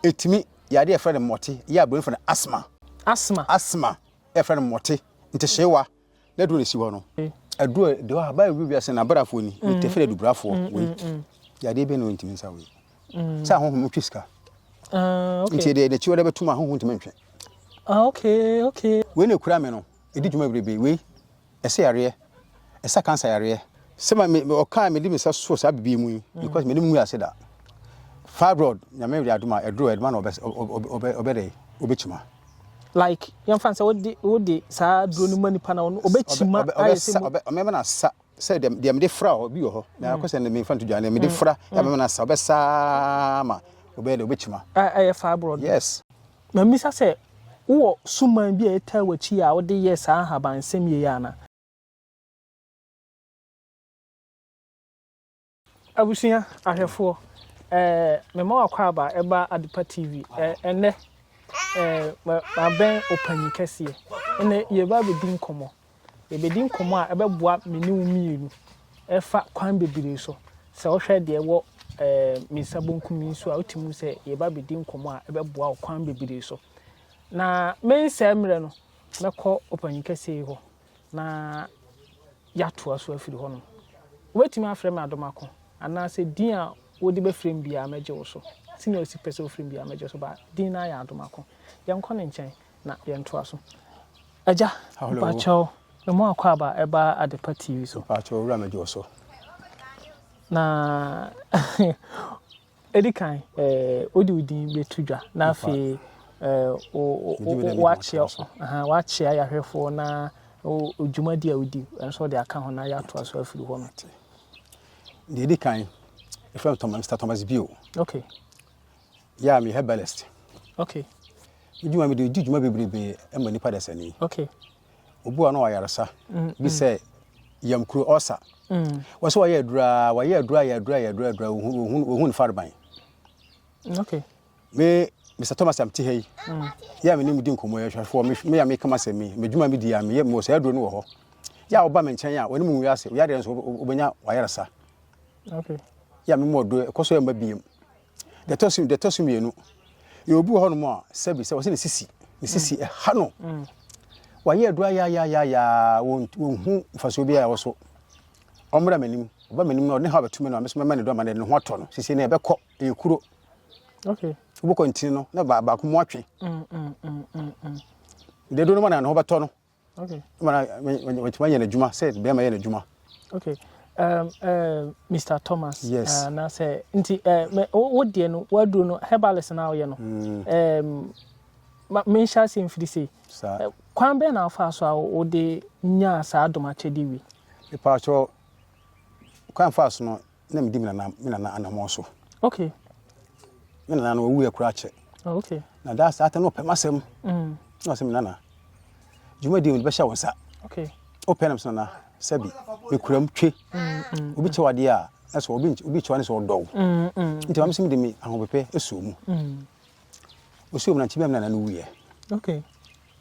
Ɛtumi yɛ adeɛ a yɛfrɛ no mmɔte, yɛ a Buronim frɛ no asthma. Asthma. Asthma a yɛfrɛ no mmɔte, ntehyeewa, na aduro na ɛsi hɔ no. Aduro a ɛdi hɔ a, Bible bi bi ase na abrafoɔ ni, nti ɛfrɛ adubrafoɔ. Wei yɛ adeɛ bi a na wɔntumi nsa wei. Sɛ ahonhom no twe sika. Nti ɛdeɛ n'akyi hɔ dɛ bɛtum ahonhom ntumi ntwe. Wei na ɛkura me no, ɛdi dwuma bebrebe. Wei ɛsɛ yareɛ, ɛsa cancer yareɛ. Sɛ ma me ɔkaa mede me nsa soo saa bibie mu yi because mene mu ase da. Fibroid nyame de adom a ɛduro ɛdema na ɔbɛ ɔbɛ ɔbɛ dɛ ɔbɛ kyima. Like yɛn fa sɛ wode wode saa duro no ma nipa na ɔno ɔbɛ kyima ayɛ sɛ mu. Ɔbɛ mɛma na sa sɛ deɛ deɛ mede fra hɔ bi wɔ hɔ na akɔ sɛ ne mfa nto dwa ne mede fra yɛ mɛma na sa ɔbɛ saa ma ɔbɛ dɛ ɔbɛ kyima. Ɛyɛ fibroid. Yes. Na mibisa sɛ, Wowɔ suman bi a ɛtaa w'akyi yi a wode yɛ saa nhabansɛm yei anaa? Abusua ahwɛfoɔ, eh, mema wo akwaaba ba Adepa TV, eh, ɛnnɛ, eh, ma, mabɛn ɔpanyin kɛseɛ, ɛnnɛ yɛreba abɛdi nkɔmmɔ. Yɛbɛdi nkɔmmɔ a ɛbɛboa me ne wo mmienu ɛfa kwan bebree so. Sɛ wohwɛ deɛ ɛwɔ ɛɛ me nsa bonkum yi so a, wotumi hu sɛ yɛba bɛdi nkɔmmɔ a ɛbɛboa wo kwan bebree so. Na mensɛe mmerɛ no, mɛkɔ ɔpanyin kɛseɛ yi hɔ na yɛatoa so afiri hɔnom. Wobɛtumi afrɛ me Adomako anaasɛ din a wode bɛfrɛ me biara mɛgye wo so. Sɛnea wosi pɛ sɛ wofrɛ me biara mɛgye wo so, but din no ara yɛ Adomako. Yɛnkɔ ne nkyɛn. na yɛntoa so. Agya, mpakyɛw, memo akwaaba a ɛba Adepa TV so. Mpakyɛw, owura mɛgye wo so. Na ɛdi kan, eh, wode wo din bɛto dwa na afei wakyea yɛahwɛfoɔ na dwumadi a wodi nso wɔde aka ho na yɛatoa so afiri hɔ no. Deɛ ɛdi kan, ɛfrɛ no Mr. Thomas Bio. Okay. Yeah, me herbalist. Okay. Me dwuma me de di dwuma bebrebe ma nipa dasani. Okay. Obi wa no wa yaresa. Mm, bi mm. sɛ yamkuro ɔsa. Mm. Wɔ sɛ wɔyɛ adura, wɔyɛ adura, yɛ adura, yɛ adura, adura, wɔhu ne fareban. Okay. Me Mr. Thomas am tihɛ yi. Mm. Yɛ a me ne mu di nkɔmmɔ yɛ hwɛfoɔ me a me kama sɛ me me dwuma me di a me yɛ mo sɛ aduro no wɔ hɔ. Yɛ a ɔba me nkyɛn a wɔne mu nwi ase. Yɛ adeɛ nso wɔbɛnya wɔayaresa. Okay. Yɛ a me mu ɔdo ɛkɔ so yɛ mma biem. Deɛ ɛtɔ so deɛ ɛtɔ so mmienu yɛ obi wɔ hɔnom a sɛbi sɛ wɔsɛ ne sisi ne mm. sisi ɛha no mm. wayɛ adu ayaayaayaayaa wɔnhu mfasoɔ biara ɛwɔ so ɔmmra m'anim ɔba m'anim na ɔde ne ha bɛtumi no a mesoma ma ne do ama ne ho atɔ no sisi na ɛbɛkɔ ɛyɛ kuro wobɛkɔ ntini no na baako mu atwe deɛ do no ma na ne ho bɛtɔ no Okay. Wɔtumi ayɛ n'adwuma sɛ bɛrima yɛ n'adwuma. Okay. Um, uh, Mr. Thomas. Yes. Uh, na sɛ nti uh, me wo deɛ no waduro no herbalist na ɔyɛ no. Mm. Um, ma menhyɛ ase mfiri sei. Saa. Uh, kwan bɛn na afa so a wode nyaa saa adomakyɛde wi? Mepaakyɛ kwan fa so no na medi me nana me nana anamɔn so okay me nana no ɔwuiɛ koraa kyɛ oh, okay na daa saa ta na ɔpɛ m'asɛm mm. na ɔsɛ me nana dwumadi mede bɛhyɛ wo nsa okay wopɛ nam so nana sɛbi mekuram twe mm, mm, obi kyɛ wadeɛ a na sɛ obi kyɛ wa ne sɛ ɔdɔw nti mame sɛ mede me ahopepɛ ɛsuo mu ɔsuo mu na nkyi bɛm nana no wuiɛ okay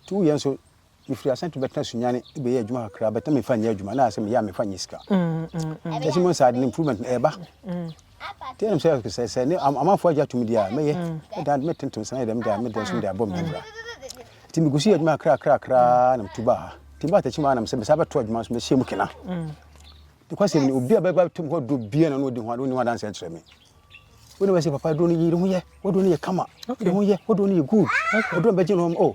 nti wuiɛ nso mefiri Asante bɛtena Sunyani bɛyɛ adwuma kakra bɛtena mefa nyɛ adwuma na asɛ meyɛ a mefa nyɛ sika kyɛ sɛ mo nsa ade no improvement no ɛba tɛ nom sɛ sɛ sɛ ne amanfoɔ agya tom deɛ a mɛyɛ mɛdan mɛtentom sɛ na dɛm deɛ mɛdan so mede abɔ me bra nti megu so yɛ adwuma kakra kakra kakra na metu baa ha nti mba atakyi maa nam sɛ mesa bɛto adwuma so mɛhyɛ mu kena nokwasɛm ne obi a bɛba tom hɔ duro bia na ɔne ɔdi ho ade ɔne ho adanse kyerɛ me wọ́n bẹ sẹ papa ẹdun ni yẹ ẹdun ho yẹ wọ́n dun ni yẹ kama ẹdun ho yẹ wọ́n dun ni yẹ good ẹdun bẹ jẹ ní ọmọ ọ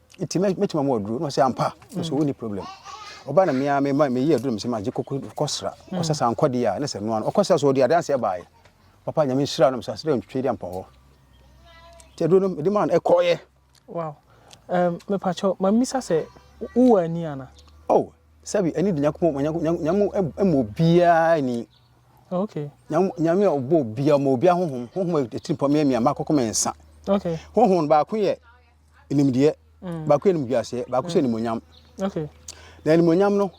nti mɛtumi ama waduro na ɔsɛ ampa nso wonni problem ɔba na mmea mema meyi aduro mesɛ magye kɔsra kɔsra sɛ ankɔ deɛ a ne sɛ noa no ɔkɔsra so ɔde adanseɛ baeɛ papa nyame nhyira no mesɛ asɛ dɛ ntwitwe de ampa hɔ nti aduro no mede maa no ɛkɔɔyɛ wow um, mepakyɛ mamisa sɛ wowɔ ani ana oh sɛbi ani de nyankopɔn nyame ɛmɔ obiara ni okay nyame a ɔbɔ obiara ma obiara honhom honhom ɛtiri pɔ meɛ mea makɔkɔ me nsa okay honhom baako yɛ nimdeɛ mm. baako yɛ nimguaseɛ baako sɛ mm. nimonyam na nimonyam no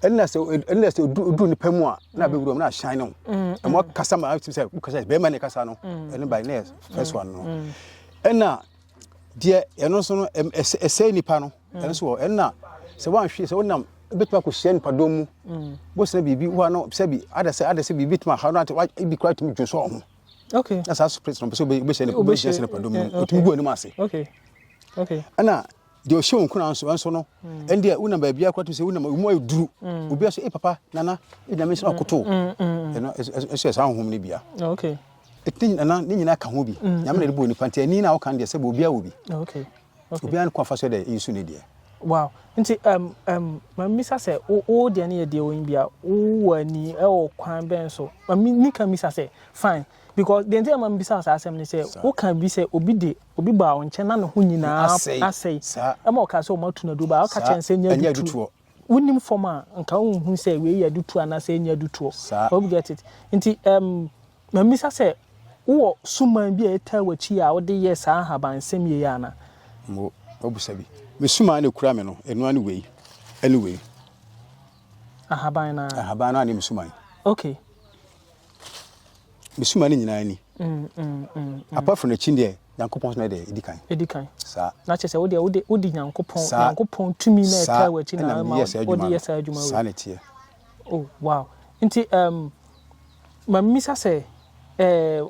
ɛnna sɛ ɛnna sɛ odu nipa mu a na bɛ wuram na ahyɛn no ɛmɔ kasa ma ɛtum sɛ kasa bɛrima ne kasa no ɛne ba ne first one no ɛnna deɛ ɛno nso no ɛsɛ nipa no ɛno nso wɔ ɛnna sɛ wɔn ahwɛ sɛ wɔn nam bɛtumi akɔhyia nipadɔm mu bɔsena biribi woa no sɛ bi ada sɛ ada sɛ biribi tumi aha no ebi kora tumi dwo sɛ ɔho okay na saa spirit no ɔpɛ sɛ wobɛhyɛ ne wobɛhyɛ sɛ ne padom no ɔtumi gu anim ase okay okay ɛna deɛ ɔhyɛ wo nkuna nso ɛnso no mm. ɛndeɛ wonam baabi akora to sɛ wonam mu ayɛ duru mm. obi aso e papa nana ɛnyame sɛ ɔkoto mm, ɛno ɛso yɛ saa honhom no bia okay ɛtini nana ne nyinaa ka ho bi nyame na de bɔ nipa nti ani na woka deɛ sɛ bɛ obi awɔ bi okay Obiara ne kwan fa so dɛ nsu ne deɛ. Wow nti ɛm ɛm ma misa sɛ wo wo deɛ ne yɛ deɛ wɔ nbia wo wɔ ani ɛwɔ kwan bɛn so ma me me ka misa sɛ fine because deɛ nti a ma mebisa wo saa asɛm ne sɛ wo ka bi sɛ obi de obi baa wo nkyɛn na ne ho nyinaa asɛe ɛma ɔka sɛ ɔmo atu no aduro baa ɔka kyerɛ no sɛ nya adutuo. Wonim fam a, nka wonhu sɛ wei yɛ adutoɔ anaasɛ ɛnyɛ adutoɔ. Saa. Hope get it. Nti ɛm, mamisa sɛ wowɔ suman bi a ɛtaa w'akyi a wode yɛ saa ahabansɛm yei ana? Mo, mobusa bi. Me suman na ɛkura me no, ɛno ara ne wei, ɛne wei. Ahaban no ara. Ahaban no ara ne me suman. Okay. Me suma no nyinaa ni. Mm, mm, mm, Apart from n'akyi deɛ, Nyankopɔn soma deɛ ɛdi kan. Ɛdi kan. Saa. Na kyerɛ sɛ wodeɛ wode wode Nyankopɔn Nyankopɔn tumi na ɛtaa wɔ akyi na ama wode yɛ saa adwuma wei. Saa na ɛteɛ. Oh wow. Nti um, ma mmisa sɛ eh,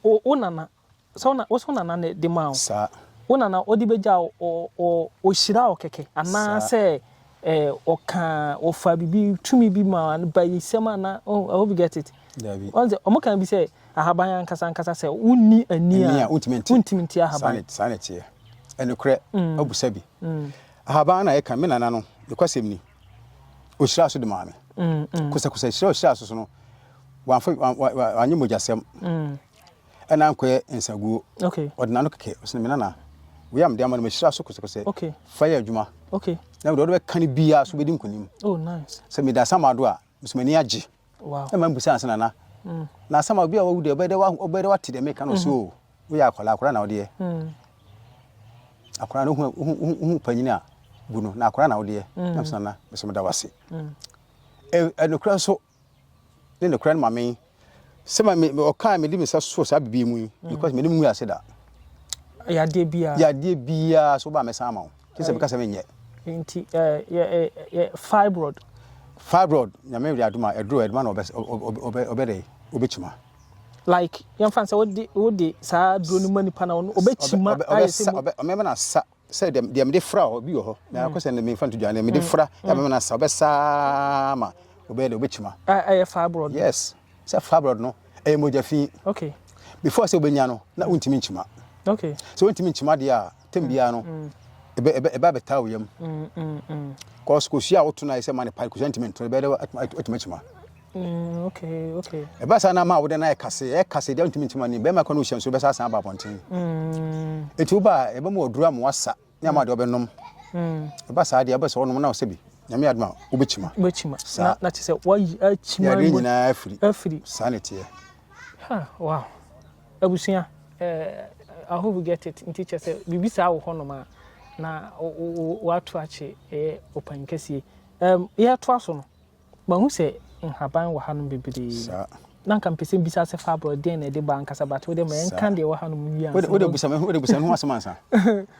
wo nana Sɛ wo wo nana na ɛde maa wo. Saa. Wo nana ɔde bɛgya wo ɔ ɔhyiraa wo kɛkɛ anaa sɛ ɛɛ ɔkaa ɔfaa biribi tumi bi maa bayisɛm anaa oh I hope you get it. Dabi. Wɔn sɛ wɔn kan bi sɛ ahaban ankasa ankasa sɛ wonni ani a. Ani a wontumi nti. Wontumi nti ahaban. Saa na saa na ɛteɛ. Ɛnokorɛ mm. abusa bi. Mm. Ahaban na ɛka me nana no nokwasɛm ni ɔhyiraa so de maa me. Mm, mm. Kosakosa hyira ɔhyiraa so so no wanyɛ mogyasɛm. Mm. Ɛna nkɔyɛ nsaguo. Okay. Ɔde n'ano kɛkɛ ɔsɛ me nana wei a mede ama no mahyira so kosɛkosɛ. Okay. Fa yɛ adwuma. Okay. Na wode ɔde bɛka no biara so bɛdi nkonim. Oh nice. Sɛ meda asamado a mesɛ m'ani agye. Wow. Ɛma mbusa ansa nana. Mm. Na asama obi a wawu deɛ ɔbɛyɛ dɛ ɔbɛyɛ dɛ wate deɛ meka no mm-hmm. so o. Woyɛ akwadaa akwadaa na wodeɛ. Mm. Akwadaa na ohu ohu ohu panyin a bu no na akwadaa na wodeɛ. Mm. Na mesɛ nana mesɛ meda wase. Mm. Ɛnokora nso ne nokorɛ no ma me sɛ ma me ɔka a mede me nsa soo saa biribi yi mu yi because m'anim ngu ase da yadeɛ biara yadeɛ biara so ba mɛsan ama wo te sɛ meka sɛ menyɛ nti yɛ fibroid fibroid nyame wura adoma ɛduro ɛdoma na ɔbɛdɛ ɔbɛkyima like yɛmfa sɛ wode wode saa duro no ma nipa na ɔbɛkyima ayɛ sɛ ɔmɛma no asa sɛ deɛ deɛ mede fra hɔ bi wɔ hɔ na akɔ sɛ mede mfa nto dwa deɛ mede fra yɛ mɛma no asa ɔbɛsaa ma ɔbɛyɛ deɛ ɔbɛkyima ɛyɛ fibroid yes sɛ fibroid no ɛyɛ mogya fi okay before sɛ wobɛnya no na wontumi nkyima okay sɛ wontumi nkyima deɛ a tɛm biara no ɛbɛ bɛtaa wo yam kɔs kɔsua a woto no ayɛ sɛ ma no pae kɔsua ntumi nto ɛbɛyɛ dɛ atumi akyima Mm, okay, okay. Ɛbɛ saa na ama wode no ayɛ kase, ɛyɛ kase deɛ ntumi ntoma ni, bɛrima kɔ no wohyia nso bɛsa asan aba abɔnten. Mm. Ɛti wo ba ɛbɛ mu ɔduru ama wasa ne ama deɛ ɔbɛnom. Mm. Ɛba saa deɛ ɛbɛ sɛ ɔnom na ɔsɛ bi, nyame adoma wobɛkyima. Wobɛkyima. Saa. Na te sɛ wayi akyima. Yadeɛ nyinaa afiri. Afiri. Saa ne teɛ. Ha, wow. Abusua, eh, I hope you get it. Nti kyɛ sɛ, biribi saa wɔ hɔnom a, na wato akye ɛyɛ ɔpan kɛsie. Um, yɛtoa so no. Mahu sɛ nhaban wɔ hanom bebree. Saa. Na nka mpɛ sɛ mbisa sɛ fabro deɛn na ɛde ba ankasa but wode ma yɛnka deɛ wɔ hanom wie ansa. Wode busa me wode busa me ho asɛm ansa.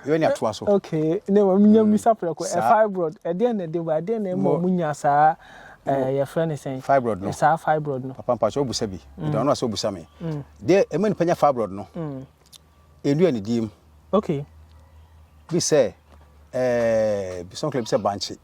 Yɛbɛ ne atoa so. Okay. Ne ma menya mm. mbisa prɛko. Ɛ fibroid ɛdeɛn na ɛde ba ɛdeɛn na ɛma ɔmo nya saa ɛɛ yɛfrɛ ne sɛn. Fibroid no. Saa fibroid no. Papa mpatsɔ obusa bi. Mm. Ɛdɔn ɔno asɛ obusa me. Mm. Deɛ ɛma nipa nya fibroid no. Enua ne diem. Okay. Bi sɛ ɛɛ bisɔnkele bi sɛ bankye.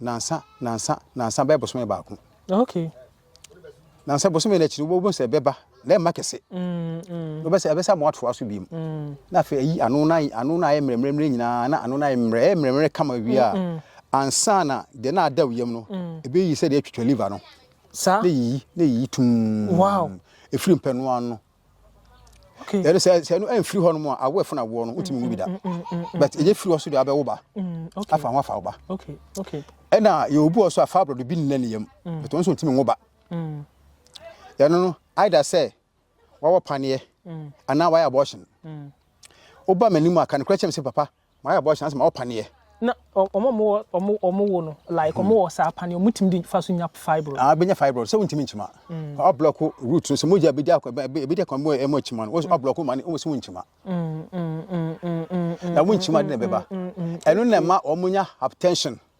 Nansa, nansa, nansa bɛyɛ bosome baako. Ok. Nansa bosome no akyiri wobɛhu sɛ ɛbɛba na ɛmma kɛse. Mm, mm. sɛ ɛbɛsɛ ama atoa so biom. Mm. Na afei ayi ano na ano na ayɛ mmerɛmmerɛmmerɛ nyinaa na ano na ayɛ mmerɛ ɛyɛ mmerɛmmerɛ kama wie a mm, mm. ansa na deɛ na ada yam no mm. ɛbɛyi sɛ deɛ atwitwa liver no. Saa. Na yiyi na yiyi tum. Wow. Ɛfiri mpɛnoa no. Okay. Yɛde sɛ sɛ no ɛmfiri hɔ nom a awo ɛfo na awoɔ no wotumi nwu bi da. But ɛyɛ firi hɔ so deɛ abɛwo ba. Afa ho afa wo ba. Ɛna yɛ obu ɔso a fibroid bi nna ne yam. But wɔn nso ntumi nwo ba. Yɛno no either sɛ wawɔ paneɛ anaa wayɛ abortion. Woba m'anim a ka nokorɛ kyɛm sɛ papa Mayɛ abortion asɛ mawɔ paneɛ. Na ɔmo a ɔmo ɔmo ɔmo wo no like ɔmo wɔ saa paneɛ ɔmo tumi de fa so nya fibroid. Ah bɛnya fibroid sɛ wontumi nkyima. Mm. Ɔ block root no sɛ mogya bɛdi akɔ bɛdi akɔ mo ɛmo akyima no. Ɔ block ma ne ɔmo sɛ wonkyima. Mm mm mm mm. Na wonkyima de na bɛba. Ɛno na ɛma ɔmo nya hypertension.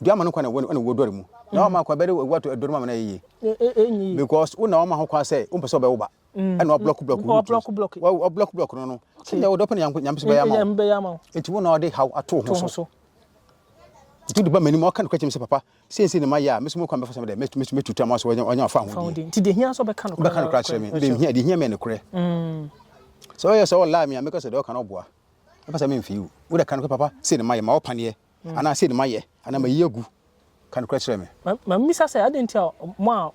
Dua ama no kwan na ɛwɔ ɛna ɛwɔ dɔre mu. Na wama akwa bɛde ɛwɔ ato ɛdɔre mu ama no ayɛ yie. Because wo na wama ho kwan sɛ wompɛ sɛ ɔbɛwo ba. Ɛna ɔblɔk blɔk wo root. Wa ɔblɔk blɔk no no. Sɛdeɛ wo dɔpɛ no nyame so bɛyɛ ama wo. Nti wo na ɔde haw ato ho so. Nti wode ba m'anim ɔka no kora kyerɛ me sɛ papa sei sei na mayɛ a me so mu kwan bɛfa sɛ mede mɛtu mɛtu mɛtu tam aso ɔnya ɔnya ɔfa ho din. Nti deɛ hia sɛ ɔbɛka no kora ɔbɛka no kora kyerɛ me. Deɛ hia deɛ hia me yɛ ne korɛ. Sɛ ɔyɛ sɛ ɔlaa me a mɛka sɛ deɛ ɔka no ɔboa. Mɛpɛ sɛ memfii wo. Wode ka no kora papa sei na mayɛ ma ɔpaneɛ. anaa sei na mayɛ anaa mayi agu. Ka nokorɛ kyerɛ me. Mammisa sɛ, Adɛn nti a mo a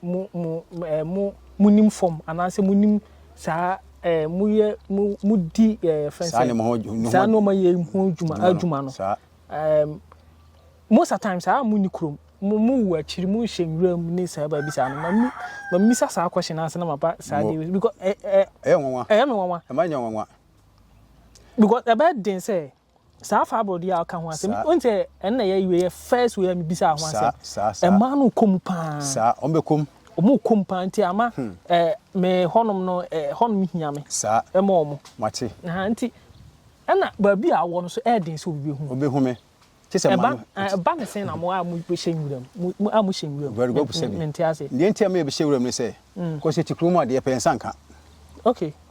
monim fam anaasɛ monim saa modi saa nneɛma yi ho dwuma no? Most of the time, saa a monni kurom, mowu akyiri, mohyɛ nwuram ne saa baabi saa no. Mammisa saa question no ansa na maba saa adeɛ wei so. Ɛyɛ me nwanwa. Ɛmma ɛnyɛ nwanwa. Because ɛbɛyɛ den sɛ Saa fabro deɛ a ɔka ho asɛm. Saa. N sɛ ɛno na yɛ wei yɛ first wei a mebisaa ho Saa, asɛm. saa, saa. Ɛmaa no kɔ mu paa. Saa, wɔn bɛ kɔm. Wɔn kɔ mu paa nti ama hmm. eh, me hɔnom no eh, hɔnom hia me. Saa. Ɛma wɔn. Mate. Aha nti ɛna baabi a awɔ no so ɛyɛ den sɛ obi bɛ hu. Obi hu me. Te sɛ maa no. Ɛba ne sɛn na mo a mo hyɛ nwura mu mo a mo hyɛ nwura mu. Very good sɛ bi. Mente ase. Deɛ nti a mo yɛ bi hyɛ nwura mu ne sɛ. Hmm. Kɔsi ti kuro mu adeɛ pɛn nsa nka. Okay.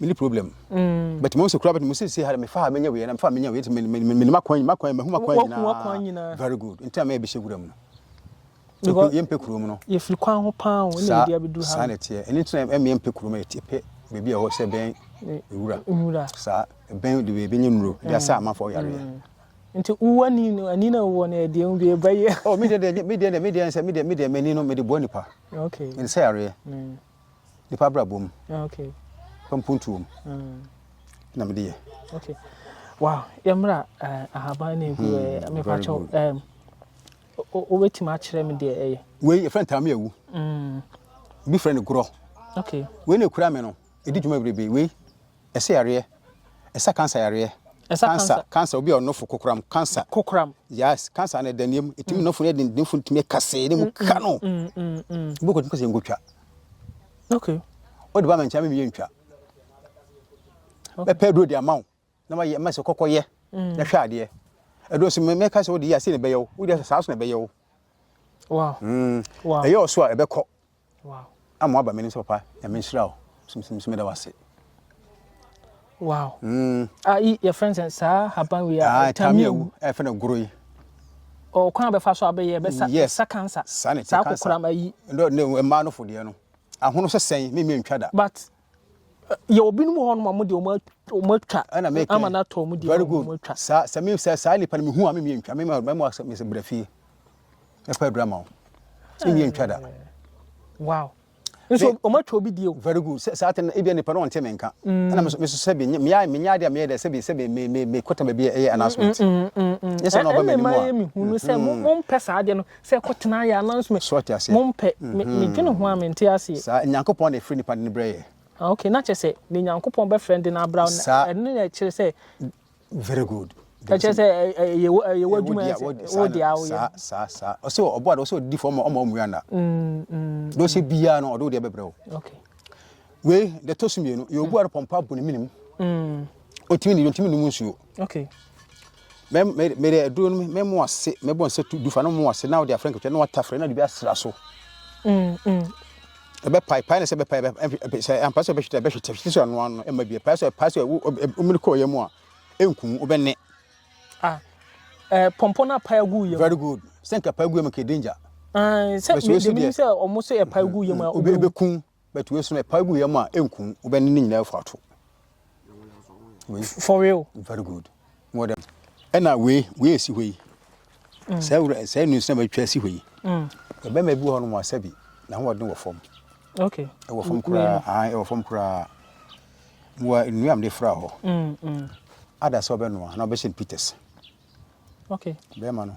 mini problem but mo nso kura but mo si si ha me fa menye we na me fa menye we ti me me me ma kwan ma kwan me huma kwan nyina very good nti a me bi hyegura mu no yɛ mpɛ kuro mu no yɛ firi kwan ho paa o na ebi abeduru ha saa na ɛteɛ ɛne ntina ɛmɛ yɛ mpɛ kuro mu ɛte pɛ beebi ɛhɔ sɛ bɛn nwura nwura saa bɛn de beebi nye nuro de asa amanfo ɔyare yɛ mm. nti wo ani no ani na wɔ no ɛdeɛ mu bi ɛbɛyɛ oh mi deɛ deɛ mi deɛ mi deɛ sɛ mi deɛ mi deɛ m'ani no mi de boa nipa okay ɛne sɛ yareɛ mm. nipa abrabɔ mu ah, okay. fa mpuntuo mu mm. na mede yɛ okay. wow yɛmmra uh, eh, ahaban ne ɛgu hmm, mepa kyɛw um, wobɛtumi akyerɛ me deɛ ɛyɛ wei yɛfrɛ ntame awu mm. bi frɛ no gorɔ okay. wei ne ɛkura me no ɛdi dwuma bebrebe wei Ɛsa yareɛ, ɛsa cancer yareɛ. Ɛsa cancer. Cancer, cancer, obi a ɔnofo kokoram, cancer. Kokoram. Yes, cancer no ɛda nneɛm, ɛtumi nofo no ɛde nofo no tumi ɛkasee ne mu ka no. Ebi kɔ tumi kɔ sɛ nkotwa. Okay. Ɔde ba ma nkyɛn mi yɛ ntwa. Bɛpɛ aduro de ama wo na ma yɛ ma sɛ kɔkɔ yɛ na hwɛ adeɛ. Aduro nso mɛka sɛ wode yɛ ase na ɛbɛyɛ wo, wode yɛ saa so na ɛbɛyɛ wo. Wow. Mm. Wow. Ɛyɛ ɔso a ɛbɛkɔ. Wow. Ama waba m'anim sɛ papa nyame nhyira wo so meda wo ase. Wow. Mm. Ah, i your friends and sa haban we are. Ah, tami ewu. E fe na goro yi. O kwan be fa so abeye be sa yes. sa cancer. Sa ne cancer. Sa kokora ma yi. No, no, e ma no fo de no. Ahono se sen, me me ntwa da. But yɛwɔ binom wɔ hɔnom a wɔn deɛ wɔn atwa wɔn atwa ɛna mɛka ama no atɔ wɔn deɛ very good wɔn atwa saa sɛ me sɛ saa nipa no mehu a me mie ntwa me ma mɛma asɛ mesɛ brɛ fie ɛpɛ adura ma wo me mie ntwa da wow nso wɔn atwa obi deɛ o very good sɛ saa tɛn ebi nipa no ɔnte me nka mm. ɛna meso meso sɛ bi mea menya adeɛ a meyɛ dɛ sɛ bi sɛ bi me me me kɔtɛm baabi ɛyɛ announcement mm, mm, yɛ sɛ na ɔba m'anim a ɛna mɛma yɛ mehu no sɛ mo mpɛ saa adeɛ no Sɛ kɔ tena yɛ anan so me. So ɔte aseɛ? Mo mpɛ me me dwene ho a me nte aseɛ. Saa Nyankopɔn na ɛfrɛ nipa de no brɛ yɛ. Ah ok na kyerɛ sɛ deɛ Nyankopɔn bɛfrɛ no de no abra wo Saa. ɛno na ɛkyerɛ sɛ. Very good. Ɛkyerɛ sɛ ɛ ɛ ɛyɛ wo ɛyɛ w'adwuma ɛyɛ sɛ wo deɛ a wo yɛ. Saa saa saa ɔse wɔ ɔboa de ɔse ɔde di fam ɔma ɔmua nna. Deɛ ɔhyɛ biaa no ɔde wo deɛ bɛbrɛ wo. Ok. Wei deɛ ɛtɔ so mmienu yɛ obuaa no pɔmpa bɔ ne menem ɔtumi nidi ɔntumi nnom nsuo. Ok mɛ mɛ mɛde aduro no mɛ mu ase mɛ bɔ nsa tu dufa no mu ase na ɔde afrɛ nkɛtɛ na wata frɛ na de bi asra so. Mm mm. Ɛbɛ pae pae na sɛ ɛbɛ pae ɛbɛ sɛ ampa sɛ ɛbɛ hwete ɛbɛ hwete hwete so ano ano ɛma bi pae sɛ pae sɛ ɔmene kɔ yɛ mu a ɛnkum ɔbɛ ne. Ah ɛɛ pɔmpɔ na pae gu yɛ. Very good sɛ nka pae gu yɛ mu kɛ danger. Ah sɛ mɛ mɛ sɛ ɔmo sɛ ɛpae gu yɛ mu a ɔbɛ ɔbɛ kun. But wei so no ɛpa gu yam a ɛnkum wo bɛne ne nyinaa afu ato. For real. Very good. Wɔ dɛm. Ɛna wei wei esi hɔ yi. Mm. Sɛ wura sɛ nu sɛ bɛtwa esi hɔ yi. Mm. Ɛbɛma bi hɔ no mu asɛ bi na ho ɔden wɔ fam. Okay. Ɛwɔ fam koraa. Ah ɛwɔ fam koraa. Wɔ nnuam de fra hɔ. Mm. mm. Ada sɛ ɔbɛnoa na ɔbɛhyɛ no peters. Okay. Bɛrima no.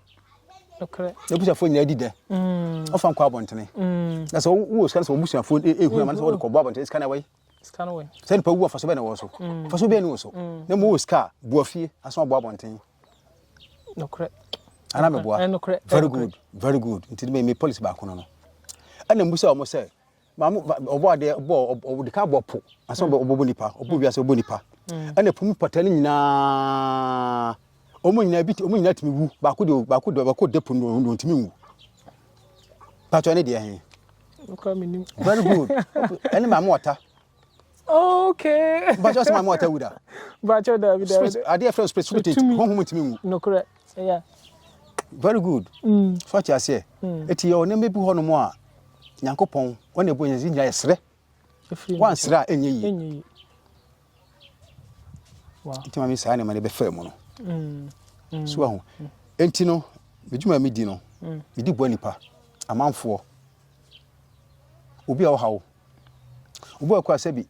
abusuafoɔ nyinaa di dɛ ɔfa nkɔ abɔntene na sɛ wowɔ sika no sɛ wɔbusuafoɔ ɛhu ama no sɛ wode kɔbɔ abɔntene sika no ɛwɔi sɛ nipa wu afaso bɛɛ na ɛwɔ so faso bɛɛ ne wɔ so na mu wɔ sika a boa fie aso abɔ abɔntene ana meboa very good very good nti me policy baako no no ɛna mbu sɛ ɔmo sɛ Maa mo ba ɔbɔ adeɛ ɔbɔ ɔde kan bɔ po ansa ɔbɔ ɔbɔ nipa ɔbɔ mm. wiase ɔbɔ nipa mm. ɛna po mu pata no nyinaa wɔn nyinaa bi wɔn nyinaa tumi wu baako de baako de baako de po no wɔn ntumi nwu patɔ ne deɛ hɛn. very good ɛne maa mo ɔta. okay. bàtjọ́ sọ maa mo ɔta wu da. bàtjọ́ dàbí dàbí. adeɛ fɛn spirit spirit honhom ntumi nwu. Yeah. Very good. Mm. So ati aseɛ. Mm. Eti yɛ ɔne mmebi hɔ nom a nyankopɔn ɔne ɛbɔ yɛn nyinaa yɛsrɛ. Wansrɛ a ɛnyɛ yie. Ɛnyɛ yie. Wow. Nti maame saa nneɛma no bɛfɛ mu no. Mm. Mm. So ahu. Mm. Enti no, medwuma medi no, mm. medi boa nipa, amanfoɔ, obi a ɔhaw, obi a ɔkɔ asɛ bi,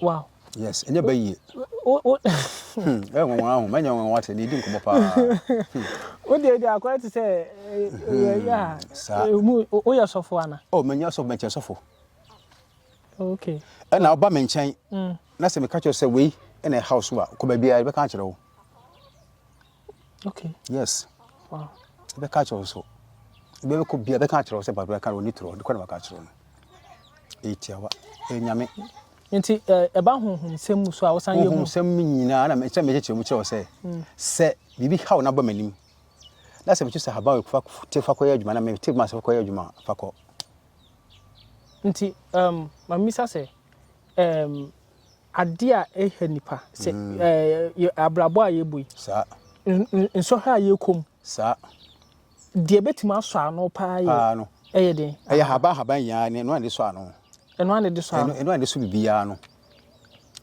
wow yes ɛnyɛ bɛ yie ɛyɛ nwanwa ahu mɛnyɛ nwanwa sɛ ne ɛdi nkɔmmɔ paa wodeɛ deɛ akɔyɛ te sɛ woyɛ sɔfo ana o menyɛ sɔfo mɛkyɛ sɔfo okay ɛna woba me nkyɛn na sɛ meka kyerɛ sɛ wei ɛna ɛhaw so a kɔ baabiaa yɛbɛka akyerɛ wo okay yes wow ebe ka kyerɛ so ebe ko bia ebe ka kyerɛ sɛ ba bia ka oni tro de kɔ na ka kyerɛ no etia wa enyame nti ɛba eh, honhom sɛm mu so a wosan yɛ honhom sɛm mu nyinaa na mekyɛ mekyɛ kyerɛ mu kyerɛ sɛ mm. sɛ biribi haw na ba m'anim na sɛ mekyɛ sɛ haba fa te fa kɔyɛ adwuma na me te ma sɛ kɔyɛ adwuma fa kɔ nti um mamisa sɛ um adeɛ a ɛha nnipa, sɛ ɛɛ abrabɔ a yɛbɔ yi. Saa. Nsɔhwɛ a yɛkɔ mu. Saa. Deɛ ɛbɛtumi asɔ ano paa yɛ. Paa no. Ɛyɛ den. Ɛyɛ haban haban yi ara, ɛno a yɛde sɔ ano. Ɛno a yɛde sɔ ano. Ɛno a yɛde sɔ biribiara no.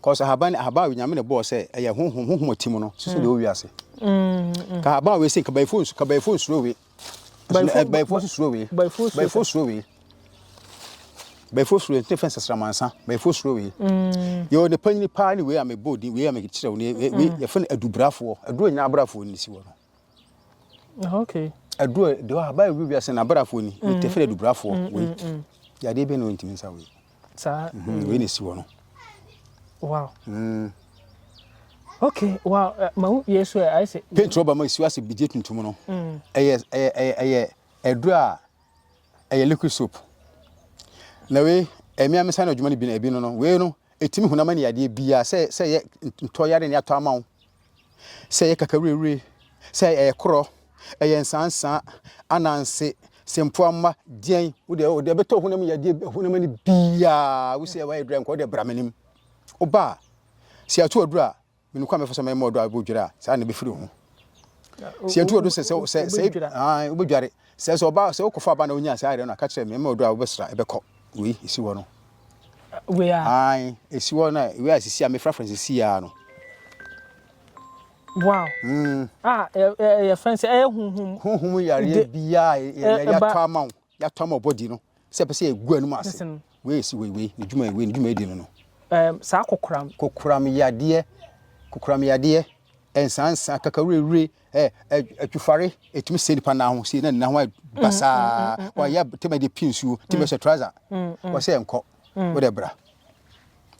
Kɔsɛ haban haban a Onyame na ɛbɔɔ sɛ ɛyɛ honhom honhom a ɛte mu no, susu deɛ ɛwɔ wiase. Ka haban a wɔsi kabayifoɔ nsu kabayifoɔ nsuro we. bɛyifoɔ nso suro wei bɛyifoɔ suro wei bɛyifoɔ suro wei nti fɛn sasramansa bɛyifoɔ suro wei mm. yɛ ɔde panyin paa ne wei a mebɔ din wei a mekyerɛ wei wei mm. yɛfɛ no adubrafoɔ aduro nyinaa abrafoɔ ni si wɔ no ah, okay aduro de hɔ abayɛ wi wiase na abrafoɔ ni yɛtɛfɛ mm. adubrafoɔ wei yadeɛ bɛ na ɔntumi nsa wei saa mm, wei na ɛsi hɔ no wow mm. okay wow eh, ma wo yɛ so ɛ ayɛ sɛ paint rɔba ma ɛsi ase bigye tuntum no mm. ɛyɛ ɛyɛ ɛyɛ ɛduro a ɛyɛ liquid soap na wei ɛmi a mesa no adwuma no bi no ebi no no wei no ɛtumi hunam ne yadeɛ biara sɛ sɛ yɛ ntɔyare ne atɔ ama wo sɛ ɛyɛ kakawirewire, sɛ ɛyɛ korɔ, ɛyɛ nsansa, ananse, sempoa mma, deɛn, wo deɛ, deɛ ɛbɛtɔ honam mu yadeɛ, honam ani biara, wo sɛ wayɛ dura nka, wo deɛ bra m'anim. Woba a, sɛ yɛato ɔduro a, menim kwan mɛfa so mɛma ɔdɔ a ɛbɔ dwira a, saa na ɛbɛfiri ho. Sɛ yɛto ɔduro sɛ sɛ sɛ wobɛdware, Sɛ sɛ ɔba sɛ wokɔfa aba na wonya saa ayerɛ no aka kyerɛ me mma ɔdɔ a wobɛsra ɛbɛkɔ wei ɛsi hɔ no wei a ae ɛsi hɔ no wei a sisi a mefrafra sisi a no wow mm. ah yɛfrɛ sɛ ɛyɛ honhom honhom yareɛ biaa yɛatɔ ama wo yɛatɔ ama ɔbɔdi no Sɛ ɛpɛ sɛ yɛgu anom ase. Listen. Wei esi wei wei ne dwuma wei ne dwuma edi no no. Um, saa kokoram. Kokoram yadeɛ, kokoram yadeɛ, nsansa, kakawurewure, ɛ ɛ atwifare, etumi sɛ nipa nan ho sie na ne nan ho ayɛ mm, basaa. Mm, mm, wɔyɛ tɛmɛ de pii nsuo, tɛmɛ hyɛ trouser, wɔsɛ nkɔ, wɔde bra.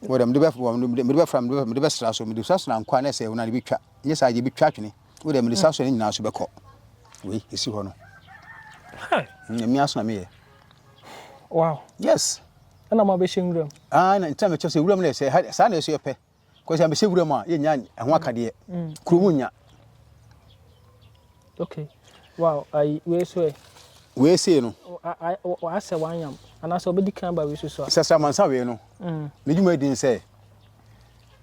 Wɔ dɛ mede bɛ wɔ mede mede bɛfra mede bɛ mede bɛsra so mede sasra nkoa na ɛsɛ na de bɛtwa nyɛ saa deɛ bɛtwa atwene wɔ dɛ mede saa so ne nyinaa so bɛkɔ wei ɛsi hɔ no ɛmi aso na meyɛ wow yes ɛna ma bɛhyɛ nwura mu ah na ntina mɛkyɛ sɛ nwura mu na ɛsɛ saa na ɛsɛ yɛpɛ kɔsɛ mɛhyɛ nwura mu a yɛnya ɛho akadeɛ kuro mu nya Ok wow ayi wei so ɛ. Wei sei no. W'asɛ w'anyam anaasɛ ɔbɛdi kan ba wei so so a. Sɛ sramansa wei no. Mm. Ne dwuma edi nsɛ.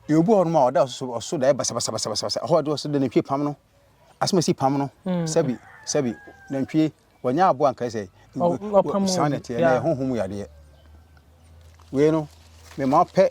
Yɛ obi hɔ nom a ɔda ɔso ɔso da yɛ basabasabasabasa ɛhɔ ɔde ɔso de ne twe pam no. Asɛm esi pam no. Mm. Sɛbi sɛbi nantwie wɔnyɛ aboa nkae sɛ. Ɔpam mu. Saa na ɛteɛ na ɛho ho mu yadeɛ. Wei no mema ɔpɛ.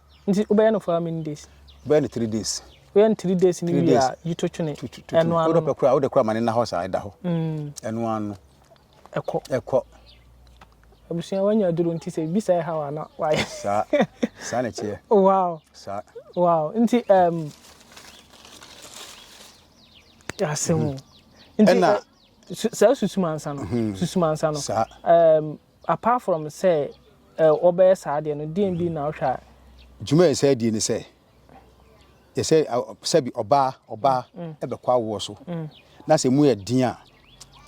Nti wo bɛyɛ no for how many days. Wo bɛyɛ no three days. Wo yɛ no three days ni wie a yi to twene. Ɛno ano. Wo dɔ pɛ kura wo de kura ma ne na hɔ saa ɛda hɔ. Ɛno ano. Ɛkɔ. Ɛkɔ. Abusua wanya aduro nti sɛ bisa ɛha wa na wayɛ. Saa saa na ɛteɛ. Wow. Saa. Wow nti ɛm. Yasemu. Nti. Ɛna. Saa susumansa no. Susumansa no. Saa. Ɛm. Apart from sɛ wɔbɛyɛ saa adeɛ no, deɛn bi na wohwɛ a. Dwuma a yɛsɛ adie ne sɛ, yɛsɛ sɛbi ɔbaa ɔbaa ɛbɛkɔ awoɔ so, na sɛ emu yɛ den a,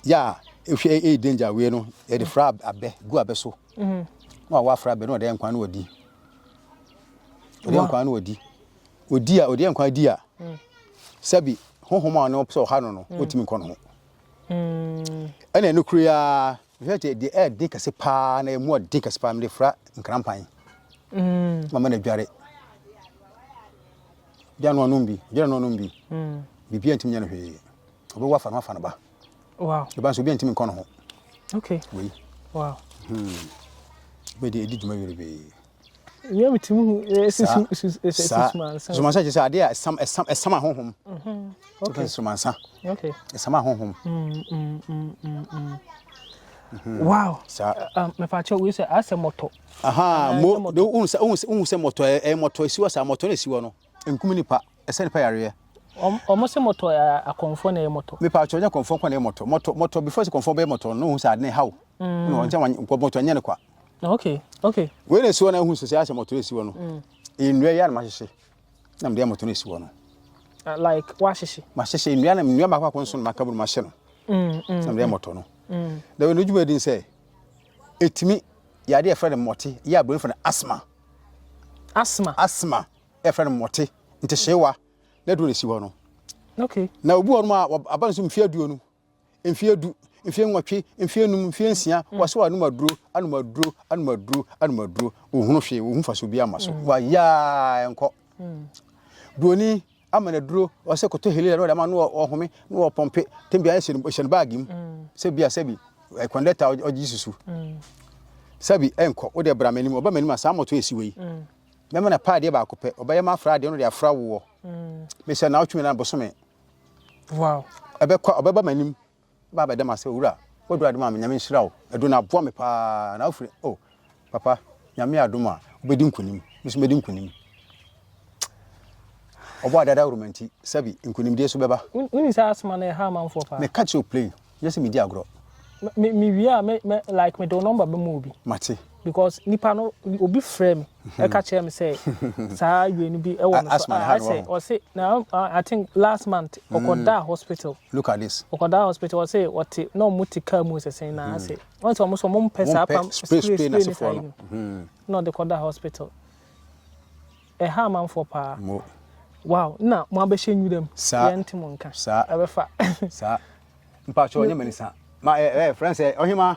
yɛ a ehwɛ ɛyɛ danger awei no, yɛde fra abɛ gu abɛ so, na wawo afra abɛ na ɔde nkwan no ɔdi, ɔde nkwan no ɔdi, ɔdi a ɔde nkwan di a, sɛbi honhom a ɔne ɔpɛ sɛ ɔha no no, ɔtumi nkɔ no ho. mm. Ɛna ɛno kure a mehwɛ te deɛ ɛyɛ den kɛse paa na ɛmu ɔden kɛse paa mede fra nkrampan mm. mama no adware gya no anom bi dware no anom bi mm. biribia ntimi nyɛ no hwee ɔbɛwɔ afa no afa no ba wow. ɛba nso obi antimi nkɔ no ho okay. wei wow. hmm. bɛde ɛdi dwuma werɛ bee saa nsumansa kyerɛ sɛ adeɛ a ɛsam ɛsam ɛsam ahonhom okay nsumansa okay ɛsam ahonhom wow saa mɛfa kyɛ wei sɛ asɛ mɔtɔ aha mo de ohun sɛ ohun sɛ ohun sɛ mɔtɔ ɛyɛ mɔtɔ esiwa saa mɔtɔ na esiwa no. nkum nnipa, ɛsɛ nnipa yareɛ. Wɔn, wɔn se mɔtɔ yɛ akɔnfoɔ na ɛyɛ mɔtɔ. Me paatwɔ nyɛ akɔnfoɔ nko na ɛyɛ mɔtɔ. Mɔtɔ, mɔtɔ before sɛ akɔnfoɔ bɛyɛ mɔtɔ no, wohu sɛ ade no ɛhaw. Mm. No, ɔnkyɛn wɔn nkɔ mɔtɔ nyɛ no kwa. Okay, okay. Wei na esi hɔ na ehu sɛ sɛ asɛ mɔtɔ esi hɔ no. Mm. Nnua yɛ anam ahyehye. Na mede mɔtɔ no esi hɔ no. Ah, like wahyehye. Mahyehye nnua na nnua mako akɔ nso na maka bunu mahyɛ no. Mm, mm. Na mede mɔtɔ no. Mm. Na wɔn adwuma di sɛ etimi yade ɛfrɛ no mɔte yɛ aburo no fɛ no asthma. asthma. asthma yɛfrɛ no mmɔte ntehyeewa na aduro na ɛsi hɔ no okay. na obi wɔ nom a aba no so mfeɛ aduonu mfeɛ du mfeɛ nwɔtwe mfeɛ num mfeɛ nsia mm. wɔsɛ wɔanom aduro anom aduro anom aduro anom aduro ɔhunu hwee ɔhu fa so bi ama so mm. wayaa ɛnkɔ mm. buroni ama no aduro ɔsɛ kɔtɔ helila na ɔde ama no ɔhome na ɔpɔmpe tɛm bi ayɛ hyɛ no baage mu mm. sɛ bia sɛbi kɔndɛta eh, ɔgye susu mm. sɛbi ɛnkɔ eh, wode bra m'anim ɔba m'anim a saa mmɔto ɛsi wei mm. mɛma no paadeɛ baako pɛ ɔbɛyɛ ma afra adeɛ no de afra woɔ mesɛ na wotwumi na bosome ɛbɛkɔ ɔbɛba m'anim Ɔbaa bɛda mu asɛ owura w'aduru ade maa me nyame nhyira wo aduru no aboa me paa na wofiri oh papa nyame adom a wobɛdi nkunim me so mɛdi nkunim ɔbɔ adada woroma nti sɛbi nkunimdie so bɛba. Wonim sɛ asthma no ɛha amanfoɔ paa. Meka kyerɛ wo plain, nyɛ sɛ medi agorɔ. Me me wie a me me like mede wo number bɛma obi. Mate. Because nipa no obi frɛ me. ɛka kyerɛ me sɛ saa awie no bi ɛwɔ me so ah, I say ɔse na I think last month mm. ɔkɔdaa hospital look at this ɔkɔdaa hospital ɔse ɔte na ɔmo te car mu sɛsɛn na ase mm. ɔse ɔmo so ɔmo mpɛ saa pam spray spray ne saa yi no mm. na ɔde kɔdaa hospital ɛha amanfoɔ paa wow na mo abɛhyɛ nwuram yɛn ntɛ mo nka ɛbɛfa saa mpatsɔ ɔnyɛ mɛnisa ma ɛɛ eh, eh, fɛn sɛ ɔhema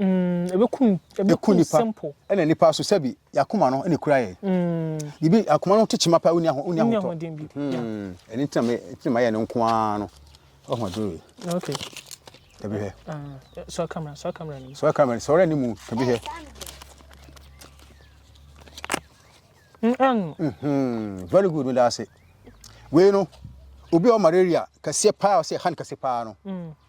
Ɛku nipa ɛna nipa so sɛbi yakoma no ɛna ekura yɛ. Bibi mm. akoma no te kyema pa onya ho onya ho tɔ. Mm. Ɛne ntina me ntina ma yɛ no nko ara no. Ɔho aduru yi. Okay. Ɛbi hɛ. Ah, eh, so camera so camera ni. So camera so ɔrɛ ni mu ɛbi hɛ. Mm, mm-hmm. Very good meda ase. Wei no obi a ɔma malaria kɛseɛ paa ɔsɛ han kɛse paa no. Mm.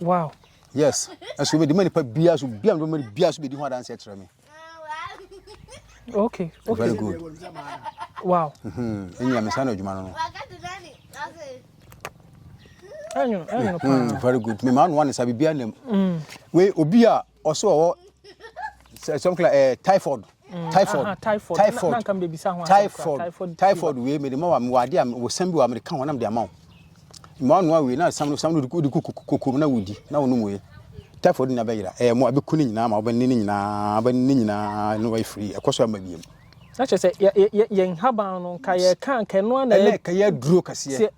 wow yes ɛso bɛdi ma nipa bia so bia no bɛma bia so bɛdi ho adanse kyerɛ me okay okay very good wow mhm ɛnyɛ me sana adwuma no no ɛnyo ɛnyo paa very good me ma no one sa bibia nam mm. we obi a ɔso ɔwɔ some kind eh, typhoid mm, typhoid typhoid typhoid typhoid wei mede ma wa mewɔ adeɛ a wɔ sam bi wɔ a mede ka ho na mede ama wo mmoa noa wei na sam no sam no wode kokom na wodi na wonom wei typhoid na bɛyera ɛyɛ eh, mo abɛku no nyinaa ma wobɛne no nyinaa wobɛne no nyinaa na wayɛ firi ɛkɔ so ama biam na kyerɛ sɛ yɛn haban no nka yɛka nka ɛno ana ɛka yɛ duro kɛseɛ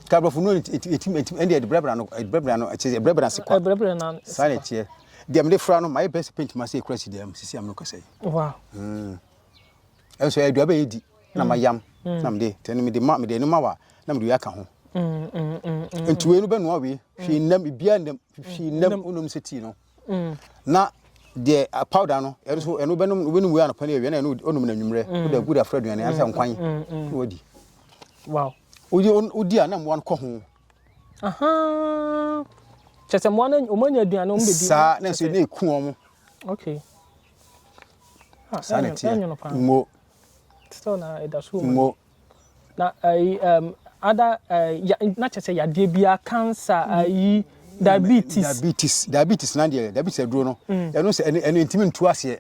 Ka brɔfo no nti nti nti nti ɛnde ɛbrɛbrɛ ano ɛbrɛbrɛ ano ɛkyɛ ɛbrɛbrɛ ase kwa. Ɛbrɛbrɛ na ase. Saa na ɛteɛ. Deɛ mede fra no ma yɛ best paint ma sɛ ekura si dɛm sisi am no kasa yi. Wow. Mm. Ɛnso ɛdua bɛ yɛ di na ma yam mm. na mede tɛ no mede ma mede no ma wa na mede yɛ aka ho. Mm, mm, mm, mm. Nti wei no bɛ noa wei hwii nam bia nam hwii nam onum sɛ tii no. na deɛ powder no ɛno so ɛno wobɛnom wobɛnom wei anɔpa ne awia na ɛno ɔnom no anwummerɛ wode agu de afra aduane ansa nkwan na wadi wow wodi wodi a na mmoa no kɔ ho kyɛ sɛ mmoa no wɔn anya aduane wɔn bɛdi saa na nso ne ɛku wɔn okay saa na ɛteɛ ngo ngo Na ayi um, other uh, ya, na kyerɛ sɛ yadeɛ biara cancer ayi diabetes. Diabetes diabetes na deɛ diabetes aduro no mm. ɛno sɛ ɛno ɛno ntumi ntu aseɛ.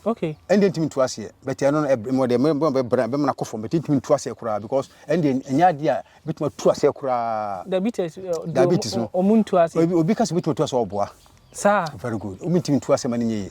Okay. ɛn deɛ ntumi ntu aseɛ but ɛno no ɛmo deɛ mo bɛ bɛ bɛ mena kɔ fam but ntumi ntu aseɛ koraa because ɛn deɛ ɛnyɛ adeɛ a bitumi atu aseɛ koraa. diabetes eh, diabetes no ɔmo ntu aseɛ. obi kasi bitumi atu aseɛ ɔboa. saa very good ɔmo ntumi ntu aseɛ ma ne nyɛ yie.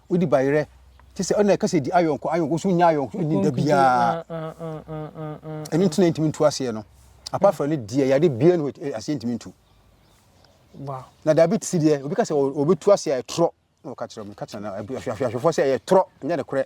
Wodi bayerɛ te sɛ ɔna ɛka sɛ di ayɔnko ayɔnko so nya ayɔnko so ni da biara ɛno nti na ntumi ntu aseɛ no apart from ne deɛ yade bia no aseɛ ntumi ntu na diabetes deɛ obi ka sɛ ɔbɛtu aseɛ a ɛtorɔ na ɔka kyerɛ mu ka kyerɛ ahwɛfoɔ sɛ ɛyɛ torɔ nyɛ ne korɛ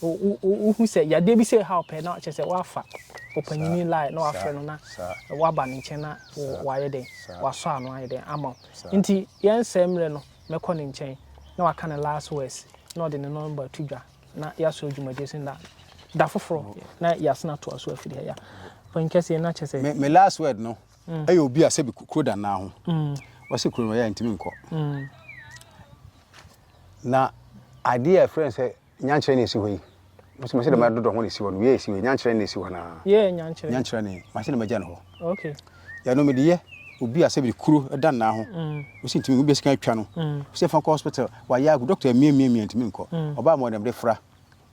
Wohu sɛ yadeɛ bi sɛ ɛhaw pɛ na kyerɛ sɛ woafa ɔpanyini line na wafrɛ no na woaba ne nkyɛn na wayɛ dɛn wasɔ ano ayɛ dɛn ama wo nti yɛnsɛ mmerɛ no mɛkɔ ne nkyɛn na waka ne last words na ɔde ne nɔmba to dwa na yɛasɔ dwumadie so na da foforɔ na yɛasena atoa so afiri ha ya ɔpanyin kɛseɛ na kyɛ sɛ me, me last word no mm. ɛyɛ obi a sɛbi kuro da naa ho mm. wɔse kuro no ɔyɛ ntumi nkɔ mm. Na adeɛ a ɛfrɛ no sɛ nyankyerɛ na ɛsi hɔ yi, mo sɛ mɛsɛ dɛm adodɔ ho na ɛsi hɔ no, wei a ɛsi hɔ yi, nyankyerɛ na ɛsi hɔ anaa? Yeah, nyankyerɛ. Nyankyerɛ ne, mɛsɛ dɛm agya no hɔ. Okay. Yɛ no medeyɛ, obi a sɛ biri kuro da nnaa ho, mo sɛ ntumi, mo bɛ sika atwa no, mo sɛ fa nkɔ hospital, wayɛ agu, doctor mmie mmie mmie ntumi nkɔ, ɔbaa ma ɔdɛm de fra.